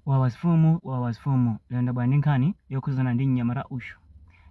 Wawa afumu Wawa afumu lero ndabwera ndi nkhani yokhuzana ndi mnyamata uyu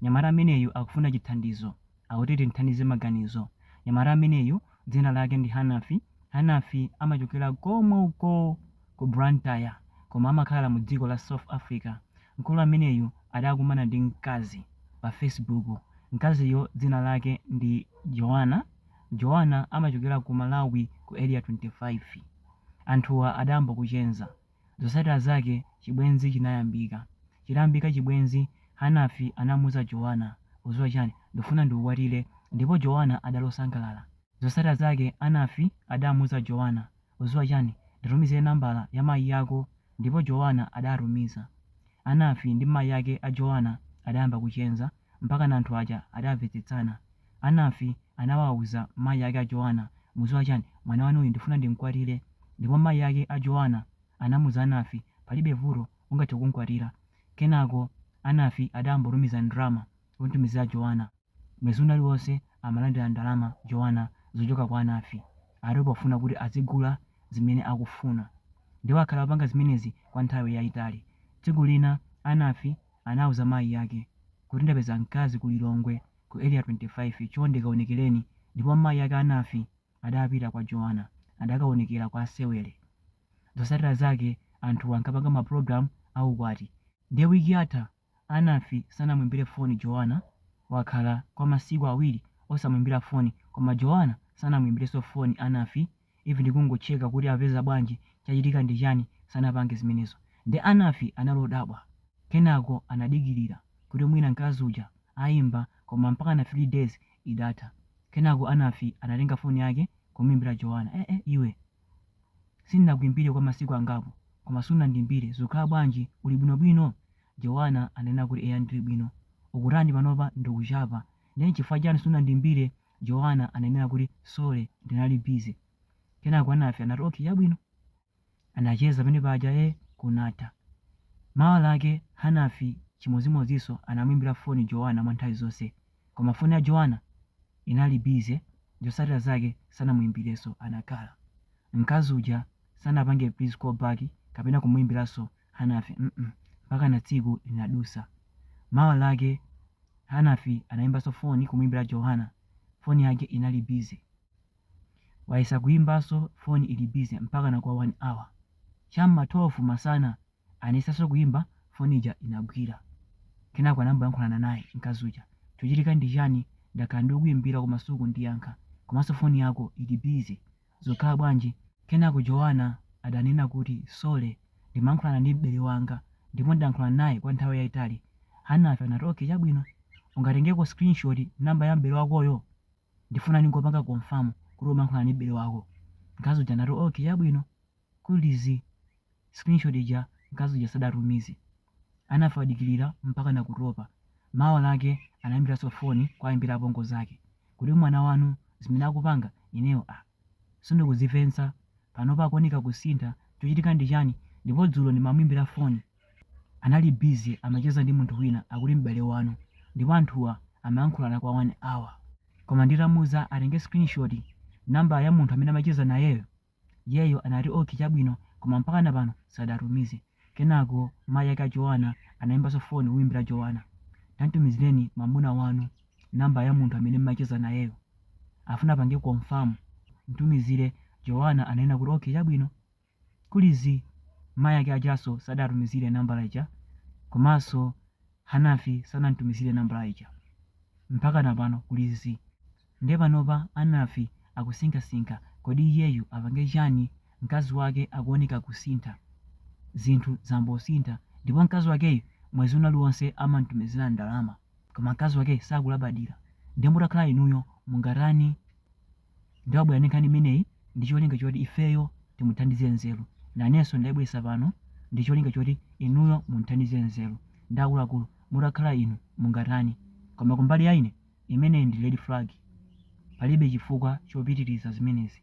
mnyamata ameneyu akufuna chithandizo akuti timthandize maganizo mnyamata ameneyu dzina lake ndi Hanafi Hanafi amachokera komwe uko ku Blantyre koma amakhala mu dziko la South Africa mkulu ameneyu adakumana ndi mkazi pa Facebook mkaziyo dzina lake ndi Joana Joana amachokera ku Malawi ku Area 25. Anthuwa adayamba kuchenza. Zotsatira zake chibwenzi chinayambika. Chitayambika chibwenzi, Hanafi anamuuza Joana, Udziwa chani? Ndifuna ndikukwatire Ndipo Joana adali osangalala. Zotsatira zake Hanafi adamuuza Joana, Udziwa chani? Nditumizire nambala ya mayi ako Ndipo Joana adatumiza. Hanafi ndi mayi ake a Joana adayamba kuchenza. mpakana anthu aja adamvetsetsana. Hanafi anawauza mayi ake a Joana, Mudziwa chani, mwana wanuyu ndifuna ndimkwatire. Ndipo mayi ake a Joana anamuuza Hanafi, Palibe vuto, ungathe kumkwatira. Kenako Hanafi adayambotumiza ndalama kumtumizira Joana. Mwezi uliwonse amalandira ndalama Joana zochoka kwa Hanafi, atero pofuna kuti adzigula zimene akufuna. Ndipo akhala akupanga zimenezi kwa nthawi yaitali. Tsiku lina Hanafi. anauza mayi ake kuti ndapeza mkazi ku Lilongwe ku Area 25 chonde kaonekereni ndipo mayi ake a Hanafi adapita kwa Joana adakaonekera kwa asewere. Zotsatira zake anthuwa ankapanga ma program a ukwati ndiye week yatha Hanafi sanamuimbire foni Joana wakhala kwa masiku awiri osamuimbira foni koma Joana sanamuimbirenso foni Hanafi. even ndi kungochecka kuti apeza bwanji chachitika ndi chani sanapange zimenezo nde Hanafi anali odabwa kenako anadikilira kuti mwina mkazi uja aimba koma mpakana 3 days idatha kenako Hanafi anatenga phone yake kumuimbira Joana eeh iwe sindinakuimbire kwa masiku angapo koma sunandiimbire zikukhala bwanji uli bwino bwino Joana ananena kuti eya ndili bwino ukutani panopa ndikuchapa nde nchifukwa chani sunandiimbire Joana ananena kuti, Sorry, ndinali busy. Kenako Hanafi anati, Okay, chabwino. Anacheza pamene paja eh kunatha. Mawa lake Hanafi chimodzimodzinso anamuimbira foni Joana mwa nthawi zonse. Koma foni ya Joana inali busy, zotsatira zake sanamuimbirenso. Anakhala. Mkazi uja sanapange please call back kapena kumuimbiranso Hanafi, mm mpakana tsiku linadusa. Mawa lake Hanafi anaimbaso foni kumuimbila Joana foni yake inali busy. Wayesa kuimbaso foni ili busy mpakana kwa 1 hour. Cha m'ma 12 masana anayesaso kuimba foni ija inagwila. Kenako anayamboyankhulana naye mkazi uja. Chochitika ndi chani? Ndakhala ndikukuimbila koma sukundiyankha komaso foni yako ili busy. zikukhala bwanji? Kenako Joanna adanena kuti, Sorry, ndimayankhulana ndi m'bale wanga ndipo ndayankhulana naye kwa nthawi yaitali. Hanafi anati, Okay, chabwino. Ungatengeko screenshot number ya m'bale wakoyo? Ndifuna ndingopanga confirm kuti umayankhulana ndi m'bale wako. Mkazi uja anati, Okay, chabwino. kuli zii screenshot ija mkazi uja sadatumize Hanafi wadikirira mpaka nakutopa mawa lake anayimbiranso foni kuwayimbira apongo zake kuti mwana wanu zimene akupanga ineyo aa sindikuzimvetsa panopa akuoneka kusintha chochitika ndi chani ndipo dzulo ndimamuimbira foni anali busy amacheza ndi munthu wina akuti m'bale wanu ndipo anthuwa amayankhulana kwa 1 hour koma nditamuuza atenge screenshot number ya munthu amene amacheza nayeyo Iyeyo anati, Okay, chabwino, koma mpakana pano sadatumize. Kenako mayi ake a Joanna anaimbanso foni kumuimbira Joanna. Tamtumizireni mwamuna wanu nambala ya munthu amene mumacheza nayeyo. Afuna apange confirm. Mtumizire. Joanna ananena kuti, Okay, chabwino. Kuli zii, mayi ake ajanso sadatumizire nambala ija komanso Hanafi sanam'tumizire nambala ija. Mpakana pano kuli zii. Ndiye panopa Hanafi akusinkhasinkha kodi iyeyu apange chani mkazi wake akuoneka kusintha, zinthu zangosintha ndipo mkazi wakeyu mwezi wina uliwonse amamtumizira ndalama koma mkazi wakeyu sakulabadira ndiye mutakhala inuyo mungatani? Ndiye wabwera ndi nkhani imeneyi ndi cholinga choti ifeyo timuthandize nzeru, nanenso ndaibweretsa pano ndi cholinga choti inuyo mumthandize nzeru ndiye akuluakulu mutakhala inu mungatani? Koma kumbali ya ine Imeneyi ndi red flag. Palibe chifukwa chopitiriza zimenezi.